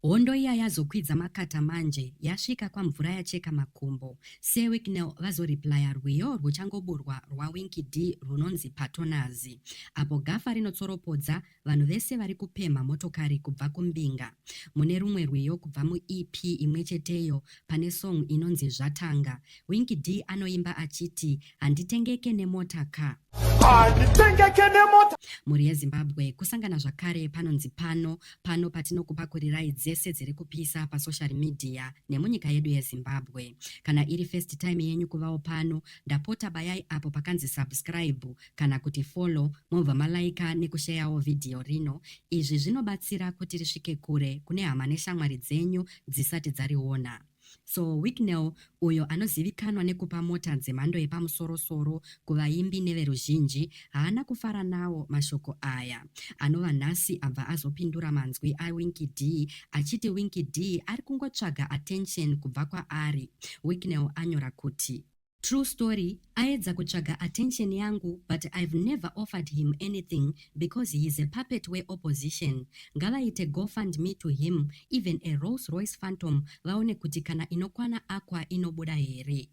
Hondo iya yazokwidza makata manje yasvika kwamvura yacheka makumbo sewicknel vazoreplya rwiyo rwuchangoburwa rwawinky dee rwunonzi patonazi apo gafa rinotsoropodza vanhu vese vari kupemha motokari kubva kumbinga mune rumwe rwiyo kubva muep imwecheteyo pane song inonzi zvatanga winky dee anoimba achiti handitengeke nemota ka handitengeke nemota mhuri yezimbabwe kusangana zvakare panonzi pano pano patinokupakurirai dzese dziri kupisa pasocial media nemunyika yedu yezimbabwe kana iri first time yenyu kuvawo pano ndapota bayai apo pakanzi subscribe kana kuti follow mobva malaika nekusheyawo vhidhiyo rino izvi zvinobatsira kuti risvike kure kune hama neshamwari dzenyu dzisati dzariona So Wicknell, uyo anozivikanwa nekupa mota dzemhando yepamusoro-soro kuvaimbi neveruzhinji, haana kufara nawo mashoko aya. Anova nhasi abva azopindura manzwi aWinky Dee achiti Winky Dee ari kungotsvaga attention kubva kwaari. Wicknell anyora kuti. True story aedza kutsvaga attention yangu but I've never offered him anything because he is a puppet we opposition. Ngavaite go fund me to him even a Rolls Royce Phantom vaone kuti kana inokwana Aqua inobuda here.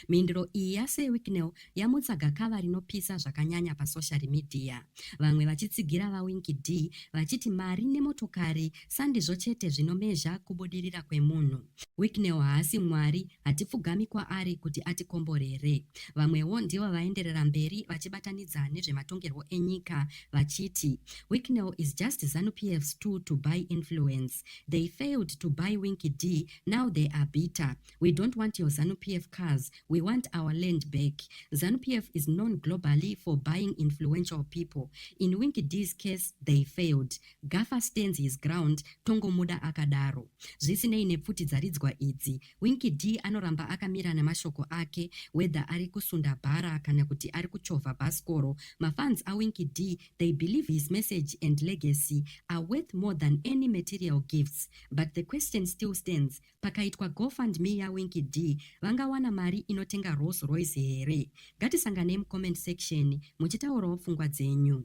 Mhinduro iyi ya Sir Wicknell yamutsa gakava rinopisa zvakanyanya pa social media. Vamwe vachitsigira va Winky D vachiti mari nemotokari Sandizvo chete zvinomezha kubudirira kwemunhu. Wicknell haasi Mwari, hatipfugami kwaari kuti atikomborere. Vamwewo ndivo vaenderera mberi vachibatanidza nezvematongerwo enyika vachiti Wicknell is just ZanuPF's tool to buy influence. They failed to buy Winky D, now they are bitter. We don't want your ZanuPF cars, we want our land back. ZanuPF is known globally for buying influential people. In Winky D's case, they failed. Gaffa stands his ground tongomuda akadaro. Zvisinei nepfuti dzaridzwa idzi, Winky Dee anoramba akamira nemashoko ake whether ari kusunda bhara kana kuti ari kuchovha bhasikoro. Mafans aWinky Dee they believe his message and legacy are worth more than any material gifts. But the question still stands, pakaitwa go fund me yaWinky Dee vangawana mari inotenga Rolls Royce here? Ngatisanganei mucomment section muchitaurawo pfungwa dzenyu.